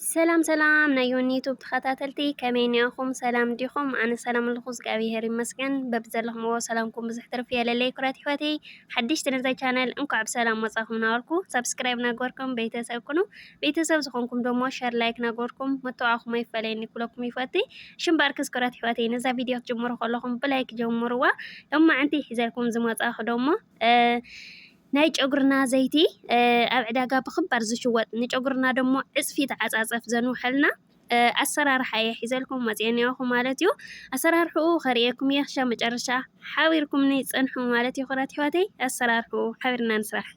ሰላም ሰላም ናይ ዮኒ ዩቱብ ተኸታተልቲ ከመይ ኒኣኹም ሰላም ዲኹም ኣነ ሰላም ኣለኹ እግዚኣብሄር ይመስገን በብዘለኹምዎ ሰላምኩም ብዙሕ ትርፊ የለለይ ኩራት ይሕዋተይ ሓደሽቲ ነዛ ቻነል እንኳዕ ብሰላም መጻኹም ናበልኩ ሰብስክራይብ ናግበርኩም ቤተሰብ ኩኑ ቤተሰብ ዝኾንኩም ደሞ ሸር ላይክ ናግበርኩም መተዋዕኹም ኣይፈለየኒ ኩለኩም ይፈቲ ሽምባርክስ ኩራት ይሕዋተይ ነዛ ቪድዮ ክትጅምሩ ከለኹም ብላይክ ጀምርዋ ሎማዕንቲ ሒዘልኩም ዝመጻኹ ደሞ ናይ ጨጉርና ዘይቲ ኣብ ዕዳጋ ብኽባር ዝሽወጥ ንጨጉርና ደሞ ዕጽፊ ተዓጻጸፍ ዘንውሐልና ኣሰራርሓ እየ ሒዘልኩም መጽየ ኔኹ ማለት እዩ። ኣሰራርሕኡ ከርእየኩም እየ ክሻ መጨረሻ ሓቢርኩምኒ ጸንሑ ማለት እዩ ክብራት ይሕዋተይ ኣሰራርሕኡ ሓቢርና ንስራሕ።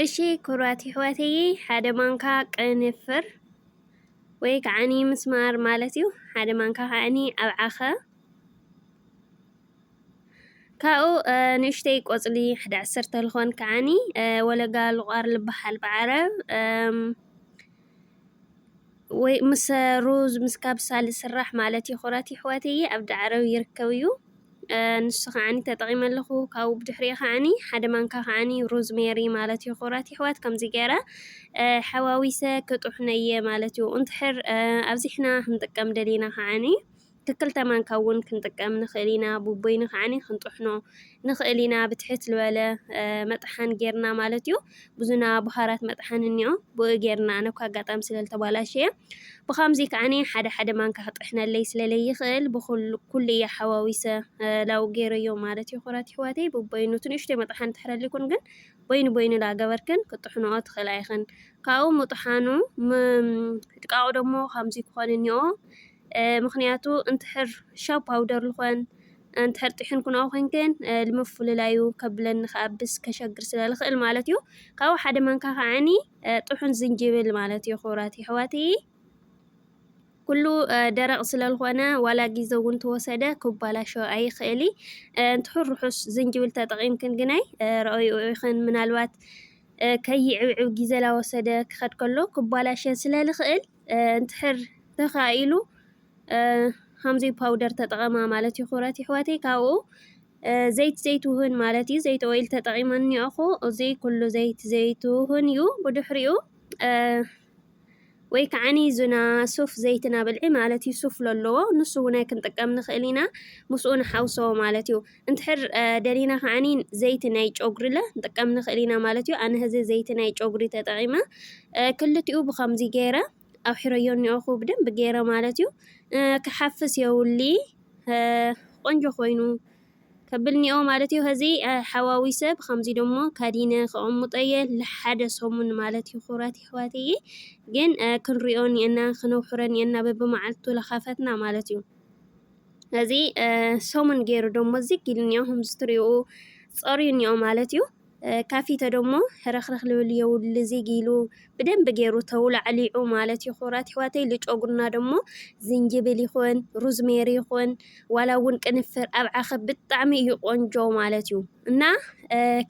እሺ ክብራት ይሕዋተይ ሓደ ማንካ ቅንፍር ወይ ከዓኒ ምስማር ማለት እዩ ሓደ ማንካ ከዓኒ ኣብ ዓኸ ካብኡ ንእሽተይ ቆጽሊ ሓደ ዓሰርተ ልኾን ከዓኒ ወለጋ ልቋር ልበሃል ብዓረብ ወይ ምስ ሩዝ ምስ ካብሳ ልስራሕ ማለት እዩ ኩረት ይሕወትይ ኣብ ዳዕረብ ይርከብ እዩ ንሱ ከዓኒ ተጠቒመ ኣለኹ ካብኡ ብድሕሪኡ ከዓኒ ሓደ ማንካ ከዓኒ ሩዝ ሜሪ ማለት እዩ ኩረት ይሕወት ከምዚ ገይረ ሓዋዊሰ ክጡሕነየ ማለት እዩ እንትሕር ኣብዚሕና ክንጥቀም ደሊና ከዓኒ ክልተ ማንካ ውን ክንጥቀም ንክእል ኢና ቡበይኑ ከኣ ክንጥሕኖ ንክእል ኢና ብትሕት ልበለ መጥሓን ጌርና ማለት እዩ ብዙና ቡሃራት መጥሓን እንኦ ብኡ ጌርና ኣነ እኳ ኣጋጣሚ ስለ ልተባላሸየ ብካምዚ ከኣ ሓደ ሓደ ማንካ ክጥሕነለይ ስለ ለይክእል ብኩሉ እየ ሓዋዊሰ ላው ጌረዮ ማለት እዩ ኩራት ይሕዋተይ ቡበይኑ ትንእሽቶይ መጥሓን ትሕረሊኩን ግን በይኑ በይኑ ላገበርክን ክጥሕንኦ ትክእላ ኢክን ካብኡ ምጥሓኑ ምድቃቁ ደሞ ካምዚ ክኮን እንኦ ምኽንያቱ እንትሕር ሻው ፓውደር ልኾን እንትሕር ጢሕን ኩናኡ ኮይንክን ልምፍልላዩ ከብለኒ ከኣብስ ከሸግር ስለ ልኽእል ማለት እዩ ካብኡ ሓደ መንካ ከዓኒ ጥሑን ዝንጅብል ማለት እዩ ክብራት ይሕዋት ኩሉ ደረቕ ስለ ልኾነ ዋላ ግዜ እውን ተወሰደ ክባላሾ ኣይኽእል እንትሑር ርሑስ ዝንጅብል ተጠቒምክን ግናይ ረኦይኡ ኢኽን ምናልባት ከይዕብዕብ ግዜ ላወሰደ ክኸድ ከሎ ክባላሸ ስለ ልኽእል እንድሕር ተኻኢሉ ሃምዚ ፓውደር ተጠቐማ ማለት እዩ ክብረት ይሕዋተይ ካብኡ ዘይት ዘይትውህን ማለት እዩ ዘይት ኦይል ተጠቒመን እኒኦኹ እዚ ኩሉ ዘይት ዘይትውህን እዩ ብድሕሪኡ ወይ ከዓኒ ዝና ሱፍ ዘይትና ብልዒ ማለት እዩ ሱፍ ለለዎ ንሱ እውን ክንጥቀም ንኽእል ኢና ምስኡ ንሓውሶ ማለት እዩ እንድሕር ደሊና ከዓኒ ዘይቲ ናይ ጨጉሪለ ንጥቀም ንኽእል ኢና ማለት እዩ። ኣነ ህዚ ዘይቲ ናይ ጨጉሪ ተጠቒመ ክልቲኡ ብከምዚ ገይረ ኣውሒረዮ እኒኦኹ ብደንቢ ገይረ ማለት እዩ። ክሓፍስ የውሊ ቆንጆ ኮይኑ ከብል እኒኦ ማለት እዩ። ህዚ ሓዋዊሰ ብከምዚ ደሞ ካዲነ ከቐምጠየ ንሓደ ሰሙን ማለት እዩ። ኩራት ይሕዋትየ ግን ክንሪኦ እኒአና ክነውሕሮ እኒአና በብመዓልቱ ለኻፈትና ማለት እዩ። ነዚ ሰሙን ገይሩ ደሞ ዝግ ኢሉ እኒኦ ከምዚ ትሪኡ ጸርዩ እኒኦ ማለት እዩ ካፊተ ደሞ ሕረኽረኽ ልብል የውሊ ዝግ ኢሉ ብደንብ ገይሩ ተውላዕሊዑ ማለት እዩ ክቡራት ይሕዋተይ ልጨጉርና ደሞ ዝንጅብል ይኹን ሩዝሜሪ ይኹን ዋላ እውን ቅንፍር ኣብ ዓኸ ብጣዕሚ እዩ ቆንጆ ማለት እዩ እና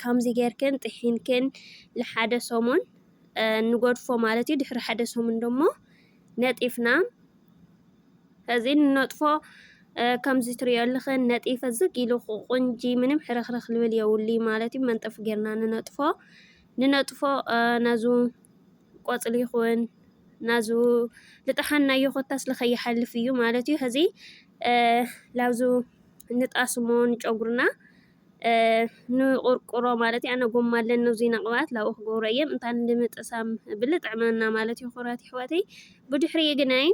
ከምዚ ጌርክን ጥሒንክን ንሓደ ሰሙን ንጎድፎ ማለት እዩ ድሕሪ ሓደ ሰሙን ደሞ ነጢፍና እዚ ንነጥፎ ከምዚ ትሪኦ ኣለኽን ነጢፈ ዝግ ኢሉ ቁንጂ ምንም ሕርኽርኽ ልብል የብሉ ማለት እዩ። መንጠፍ ጌርና ንነጥፎ ንነጥፎ ናዙ ቆፅሊ ይኹን ናዙ ልጥሓና እዩ ኮታስ ልኸይሓልፍ እዩ ማለት እዩ። ሕዚ ላብዙ ንጣስሞ ንጨጉርና ንቁርቁሮ ማለት ኣነ ጎማ ኣለኒ ዙይ ነቕባት ላኡ ክገብሮ እየም እንታን እንድምጥሳም ብል ጥዕመና ማለት ይኹራት ይሕዋተይ ብድሕሪ ግናይ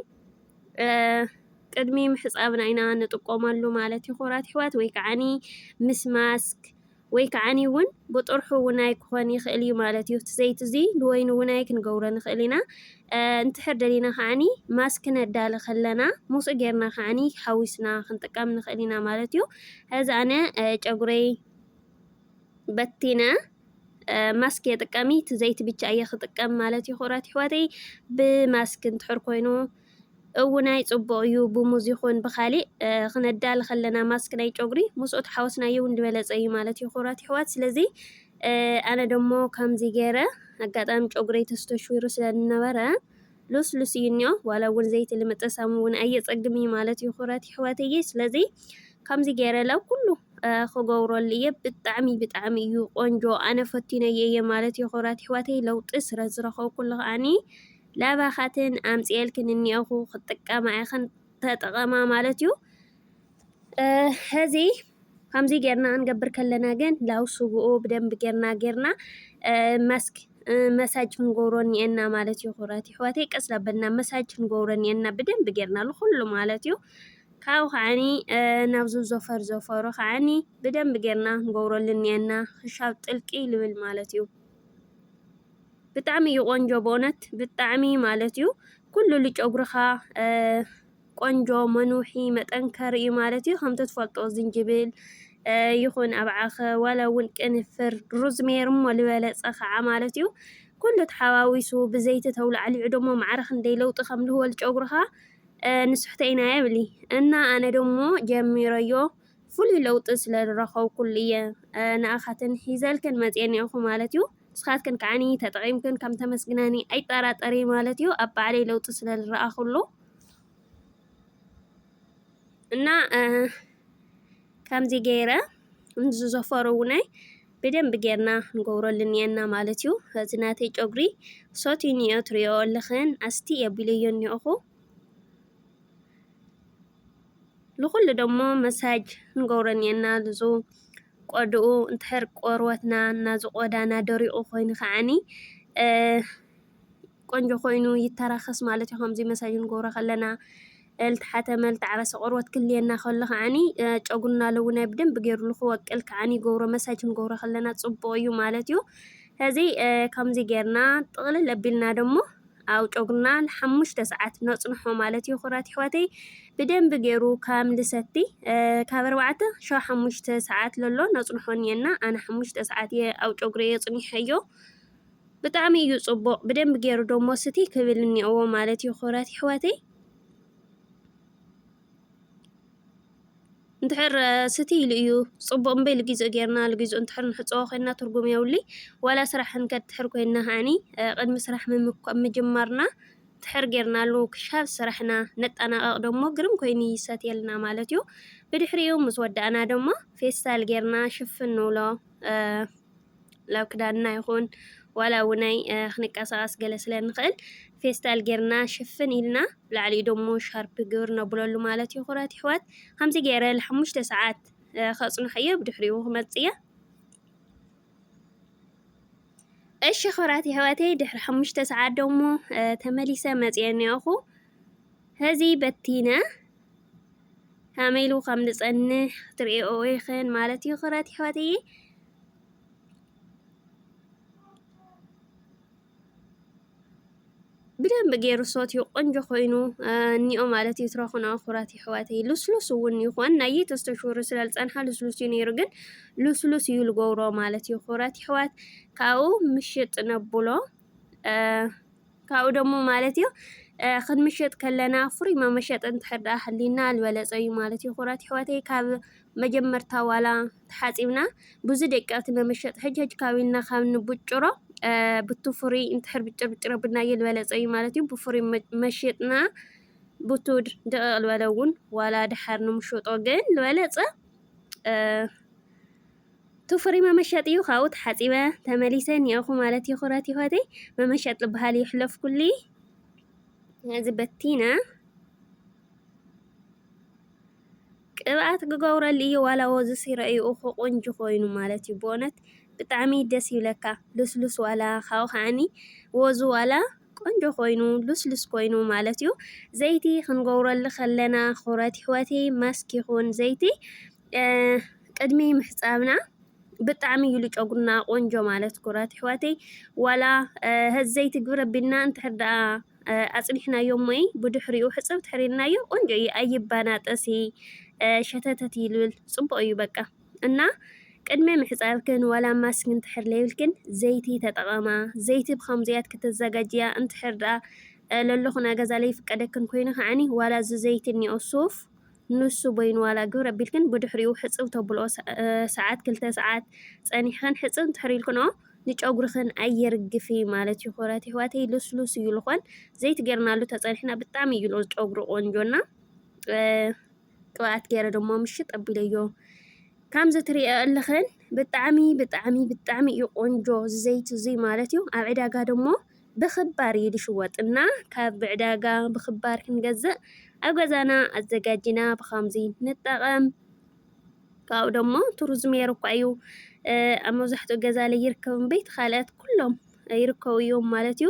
ቅድሚ ምሕፃብና ኢና ንጥቆመሉ ማለት ይኹራት ይሕዋት ወይ ከዓኒ ምስ ማስክ ወይ ከዓኒ እውን ብጥርሑ ውናይ ክኾን ይኽእል እዩ ማለት እዩ እቲ ዘይቲ እዙይ ንወይኑ ውናይ ክንገብሮ ንኽእል ኢና እንድሕር ደሊና ከኣኒ ማስክ ክነዳሊ ከለና ሞስኡ ጌርና ከኣኒ ሓዊስና ክንጥቀም ንኽእል ኢና ማለት እዩ። ሕዚ ኣነ ጨጉረይ በቲነ ማስክ እየ ጥቀሚ እቲ ዘይቲ ብቻ እየ ክጥቀም ማለት እዩ። ክብራት ኣሕዋተይ ብማስክ እንድሕር ኮይኑ እውናይ ጽቡቕ እዩ ብሙዝ ይኹን ብካሊእ ክነዳሊ ከለና ማስክ ናይ ጨጉሪ ምስኡ ተሓወስናዮ እውን ዝበለጸ እዩ ማለት እዩ ክብራት ይሕዋት ስለዚ ኣነ ደሞ ከምዚ ገይረ ኣጋጣሚ ጨጉረይ ተስተሽዊሩ ስለ ዝነበረ ሉስሉስ እዩ እኒኦ ዋላ እውን ዘይቲ ንምጥሳም እውን ኣየፀግም እዩ ማለት እዩ ኩረት ይሕዋተየ ስለዚ ከምዚ ገይረ ላብ ኩሉ ክገብረሉ እየ ብጣዕሚ ብጣዕሚ እዩ ቆንጆ ኣነ ፈቲነየ እየ ማለት እዩ ኩረት ይሕዋተይ ለውጢ ስለ ዝረኸብኩሉ ከዓኒ ላባኻትን ኣምፅኤልክን እኒኦኹ ክጥቀማ ኢኽን ተጠቐማ ማለት እዩ ሐዚ ከምዚ ጌርና ክንገብር ከለና ግን ላው ስግኡ ብደንቢ ጌርና ጌርና መስክ መሳጅ ክንገብሮ እኒኤና ማለት እዩ ክብራት ይሕዋተይ ቀስ ዳበልና መሳጅ ክንገብሮ እኒኤና ብደንቢ ጌርና ንኩሉ ማለት እዩ ካብኡ ከዓኒ ናብዚ ዘፈር ዘፈሩ ከዓኒ ብደንቢ ጌርና ክንገብረሉ እኒኤና ክሻብ ጥልቂ ልብል ማለት እዩ ብጣዕሚ እዩ ቆንጆ በእውነት ብጣዕሚ ማለት እዩ ኩሉ ልጨጉርኻ ቆንጆ መኑሒ መጠንከሪ እዩ ማለት እዩ ከምቲ ትፈልጦ ዝንጅብል ይኹን ኣብዓኸ ዋላ እውን ቅንፍር ሩዝሜር እሞ ዝበለፀ ከዓ ማለት እዩ ኩሉ ተሓዋዊሱ ብዘይቲ ተውላዕሊዑ ደሞ ማዕረ ክንደይ ለውጢ ከም ልህወ ልጨጉርኻ ንስሕተ ኢና የብሊ እና ኣነ ደሞ ጀሚረዮ ፍሉይ ለውጢ ስለ ዝረኸብኩሉ እየ ንኣኻትን ሒዘልክን መፅኤ ኒኦኹ ማለት እዩ ንስኻትክን ከዓኒ ተጠቒምክን ከም ተመስግናኒ ኣይጠራጠሪ ማለት እዩ ኣብ ባዕለይ ለውጢ ስለ ዝረኣኹሉ እና ከምዚ ገይረ እዚ ዘፈሩ እውናይ ብደንብ ጌርና ንገብረሉን እየና ማለት እዩ። እዚ ናተይ ጨጉሪ ሰትዩ እኒኦ ትሪኦ ኣለኽን ኣስቲ የቢለዮ እኒኦኹ ንኹሉ ደሞ መሳጅ ንገብረን እየና ልዙ ቆድኡ እንትሕር ቆርበትና ናዙ ቆዳና ደሪቑ ኮይኑ ከዓኒ ቆንጆ ኮይኑ ይተራኸስ ማለት እዩ። ከምዚ መሳጅ ንገብሮ ከለና ልትሓተ መልትዓረሰ ቆርበት ክልየና ከሎ ከዓኒ ጨጉና ለውናይ ብደንብ ገይሩ ንክወቅል ከዓኒ ይገብሮ መሳጅ ንገብሮ ከለና ጽቡቕ እዩ ማለት እዩ። ሕዚ ከምዚ ጌርና ጥቕልል ኣቢልና ደሞ ኣብ ጨጉና ንሓሙሽተ ሰዓት ነጽንሖ ማለት እዩ። ኩራት ይሕዋተይ ብደንብ ገይሩ ከም ልሰቲ ካብ ኣርባዕተ ሸው ሓሙሽተ ሰዓት ለሎ ነጽንሖ እኒአና ኣነ ሓሙሽተ ሰዓት እየ ኣብ ጨጉሪ እየ ጽኒሐዮ። ብጣዕሚ እዩ ጽቡቅ ብደንቢ ጌሩ ደሞ ስትይ ክብል እኒኦዎ ማለት እዩ ክብረት ይሕዋተይ እንድሕር ስትይ ኢሉ እዩ ጽቡቅ እምበይ ልጊዝኦ ጌርና ልጊዝኦ እንድሕር ንሕጽቦ ኮይና ትርጉም የብሉይ ዋላ ስራሕ ክንከድ እንድሕር ኮይና ከዓኒ ቅድሚ ስራሕ ምጅማርና እንድሕር ጌርናሉ ክሻብ ስራሕና ነጠናቀቅ ደሞ ግርም ኮይኑ ይሰትየልና ማለት እዩ ብድሕሪኡ ምስ ወዳእና ደሞ ፌስታል ጌርና ሽፍን ንብሎ ላብ ክዳድና ይኹን ዋላ ውነይ ክንቀሳቀስ ገለ ስለ ንኽእል ፌስታል ጌርና ሽፍን ኢልና ብላዕሊኡ ደሞ ሻርፕ ግብር ነብለሉ ማለት እዩ ኩረት ይሕዋት ከምዚ ገይረ ንሓሙሽተ ሰዓት ከጽንሖ እየ ብድሕሪኡ ክመጽእ እየ እሺ ኩራት ይሕዋተይ ድሕሪ ሓሙሽተ ሰዓት ደሞ ተመሊሰ መጽየ እኒኦኹ ሕዚ በቲነ ከመይ ኢሉ ከም ዝጸንሕ ክትርእይኦ ኢኽን ማለት እዩ ክብረት ይሕዋተየ። ብደንብ ገይሩ ሶት እዩ ቆንጆ ኮይኑ እኒኦ ማለት እዩ ትረኹና ኩራት ይሕዋተይ ልስሉስ እውን ይኾን ናየ ተስተሽሩ ስለልፀንሓ ልስሉስ እዩ ነይሩ ግን ልስሉስ እዩ ልገብሮ ማለት እዩ ኩራት ይሕዋት ካብኡ ምሽጥ ነብሎ ካብኡ ደሞ ማለት እዩ ክንምሽጥ ከለና ፍሩይ መመሸጢ እንድሕር ደኣ ሃልዩና ዝበለጸ እዩ ማለት እዩ። ኩራት ኣሕዋተይ ካብ መጀመርታ ዋላ ተሓጺብና ብዙ ደቀቕቲ መመሸጢ ሕጅ ሕጅ ካብ ኢልና ካብ ንብጭሮ ብቱ ፍሩይ እንድሕር ብጭር ብጭር ኣብናዮ ዝበለጸ እዩ ማለት እዩ። ብፍሩይ መሽጥና ብቱ ደቐቕ ዝበለ እውን ዋላ ደሓር ንምሸጦ ግን ዝበለጸ ቱፍሪ መመሸጥ እዩ ካብኡ ተሓጺበ ተመሊሰ ኒኣኹ ማለት እዩ ኩረት ይሆተይ መመሸጥ ልበሃል እዩ ሕለፍኩሊ እዚ በቲነ ቅብኣት ክገብረሉ እዩ ዋላ ወዙ ሲረ እዩ እኮ ቆንጆ ኮይኑ ማለት እዩ ብእውነት ብጣዕሚ ደስ ይብለካ ልስሉስ ዋላ ካብኡ ከዓኒ ወዙ ዋላ ቆንጆ ኮይኑ ሉስሉስ ኮይኑ ማለት እዩ ዘይቲ ክንገብረሉ ከለና ኩረት ይሕወቲ ማስክ ይኹን ዘይቲ ቅድሚ ምሕጻብና ብጣዕሚ እዩ ጨጉርና ቆንጆ ማለት ኩረት ይሕወቲ ዋላ ህዝ ዘይቲ ግብረ ቢልና እንድሕር ደኣ ኣጽኒሕናዮ እሞይ ብድሕሪኡ ሕጽብ ትሕሪልናዮ ቆንጆ እዩ ኣይባናጠሲ ሸተተት ይልብል ጽቡቅ እዩ በቃ እና ቅድሚ ምሕጻብክን ዋላ ማስክ እንድሕር ለይብልክን ዘይቲ ተጠቐማ ዘይቲ ብኸምዚያት ክተዘጋጅያ እንድሕር ደኣ ለለኹና ገዛ ለይፍቀደክን ኮይኑ ከዓኒ ዋላ እዚ ዘይቲ እኒኦ ሱፍ ንሱ በይኑ ዋላ ግብር ኣቢልክን ብድሕሪኡ ሕጽብ ተብልኦ ሰዓት ክልተ ሰዓት ጸኒሕኽን ሕጽብ እንድሕር ኢልክንኦ ንጨጉርኽን ኣየርግፊ ማለት እዩ ኩራት ይሕዋተይ ልስሉስ እዩ ልኾን ዘይቲ ጌርናሉ ተጸኒሕና ብጣዕሚ እዩ ጨጉሪ ቆንጆና ቅብኣት ገይረ ደሞ ምሽጥ ኣቢለዮ። ከምዚ ትሪእዮ ኣለኽን ብጣዕሚ ብጣዕሚ ብጣዕሚ እዩ ቆንጆ እዚ ዘይቲ እዚ ማለት እዩ። ኣብ ዕዳጋ ደሞ ብኽባር እዩ ዝሽወጥ እና ካብ ብዕዳጋ ብኽባር ክንገዝእ ኣብ ገዛና ኣዘጋጂና ብኸምዚ ንጠቐም። ካብኡ ደሞ እቲ ሩዝሜሪ እኳ እዩ እ፣ ኣብ መብዛሕትኡ ገዛ ላይ ይርከብ እምበይ እቲ ካልኣት ኩሎም ይርከቡ እዮም ማለት እዩ።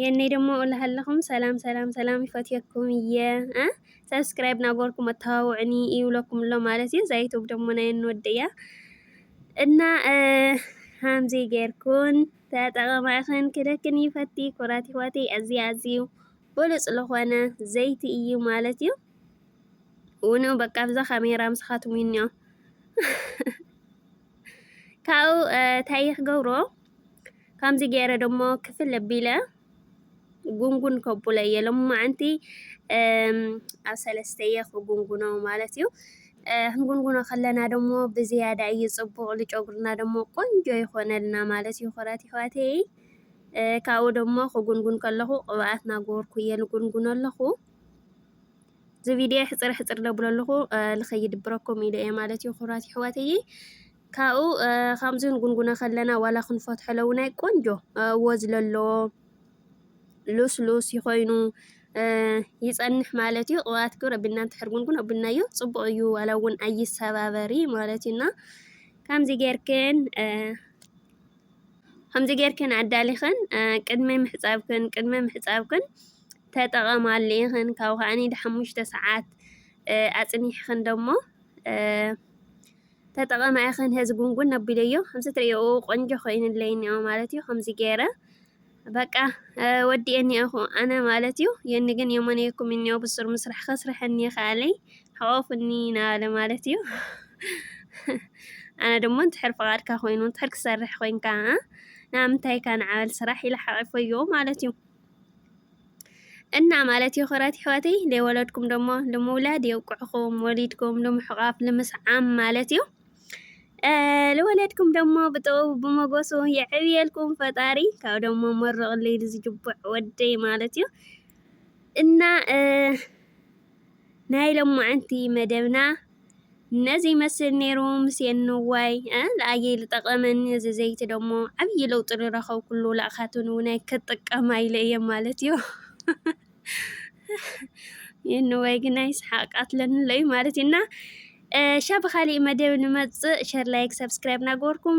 የኔ ደሞ እልሃለኹም ሰላም ሰላም ሰላም ይፈትየኩም እየ እ ሰብስክራይብ ናጎርኩም ኣተዋውዕኒ ይብለኩም ኣሎ ማለት እዩ ዛይቶም ደሞ ናይ እንወድ እያ እና ሃምዚ ጌርኩን ተጠቐማ ኢኽን ክደክን ይፈቲ ኩራት ይዋቲ ኣዝዩ ኣዝዩ ብሉፅ ዝኾነ ዘይቲ እዩ ማለት እዩ ውንኡ በቃ ብዛ ካሜራ ምስኻትም እኒኦ ካብኡ እንታይ ክገብሮ ከምዚ ገይረ ደሞ ክፍል ኣቢለ ጉንጉን ከብሎ እየ ሎማዓንቲ ኣብ ሰለስተ እየ ክጉንጉኖ ማለት እዩ። ክንጉንጉኖ ከለና ደሞ ብዝያዳ እዩ ፅቡቅ ንጨጉርና ደሞ ቆንጆ ይኾነልና ማለት እዩ ኩራት ይሕዋተይ ካብኡ ደሞ ክጉንጉን ከለኹ ቅብኣት ናገበርኩ እየ ንጉንጉን ኣለኹ። እዚ ቪድዮ ሕፅር ሕፅር ደብሎ ኣለኹ ንኸይድብረኩም ኢለ እየ ማለት እዩ ክብራት ይሕዋተይ ካብኡ ከምዚ ንጉንጉነ ከለና ዋላ ክንፈትሖ ለውናይ ቆንጆ ወዝ ለለዎ ሉስሉስ ይኮይኑ ይፀንሕ ማለት እዩ ቅብኣት ክብረ ብና እንተሕር ጉንጉን ኣብናዮ ፅቡቅ እዩ ዋላ እውን ኣይሰባበሪ ማለት እዩ እና ከምዚ ጌርክን ከምዚ ጌርክን ኣዳሊኽን ቅድሚ ምሕፃብክን ቅድሚ ምሕፃብክን ተጠቐማሉ ኢኽን ካብኡ ከኣ ንሓሙሽተ ሰዓት ኣጽኒሕኽን ደሞ ተጠቐማ ኢኽን ሀዚ ጉንጉን ኣቢለዮ ከምዚ ትርእዮ ቆንጆ ኮይኑለይ እኒኦ ማለት እዩ ከምዚ ገይረ በቃ ወዲኤኒ እኹ ኣነ ማለት እዩ የኒ ግን የሞነየኩም እኒኦ ብሱር ምስራሕ ከስርሐኒ ይኸኣለይ ሓቆፉኒ ናበለ ማለት እዩ ኣነ ደሞ እንድሕር ፍቓድካ ኮይኑ እንድሕር ክሰርሕ ኮይንካ ንኣምንታይካ ንዓበል ስራሕ ኢለ ሓቂፈዮ ማለት እዩ እና ማለት የክብረት የሕዋተይ ደይ ወለድኩም ደሞ ልምውላድ የብቅዕኩም ወሊድኩም ልምሕቃፍ ልምስዓም ማለት እዩ ልወለድኩም ደሞ ብጥበቡ ብሞጎሱ የዕብየልኩም ፈጣሪ ካብ ደሞ መርቅለይ ልዝጅቡዕ ወደይ ማለት እዩ እና ናይ ለማዓንቲ መደብና ነዚ ይመስል ኔሩ ምስየን ንዋይ እ ለኣየይ ልጠቐመኒ እዚ ዘይቲ ደሞ ዓብዪ ለውጢ ልረኸብኩሉ ላእኻትን እውናይ ክጥቀማ ኢለ እየ ማለት እዩ የንዋይ ግናይ ስሓቅ ቃትለኒ ኣሎ እዩ ማለት እና ሻ ብኻሊእ መደብ ንመፅእ ሸር ላይክ ሰብስክራይብ ናገበርኩም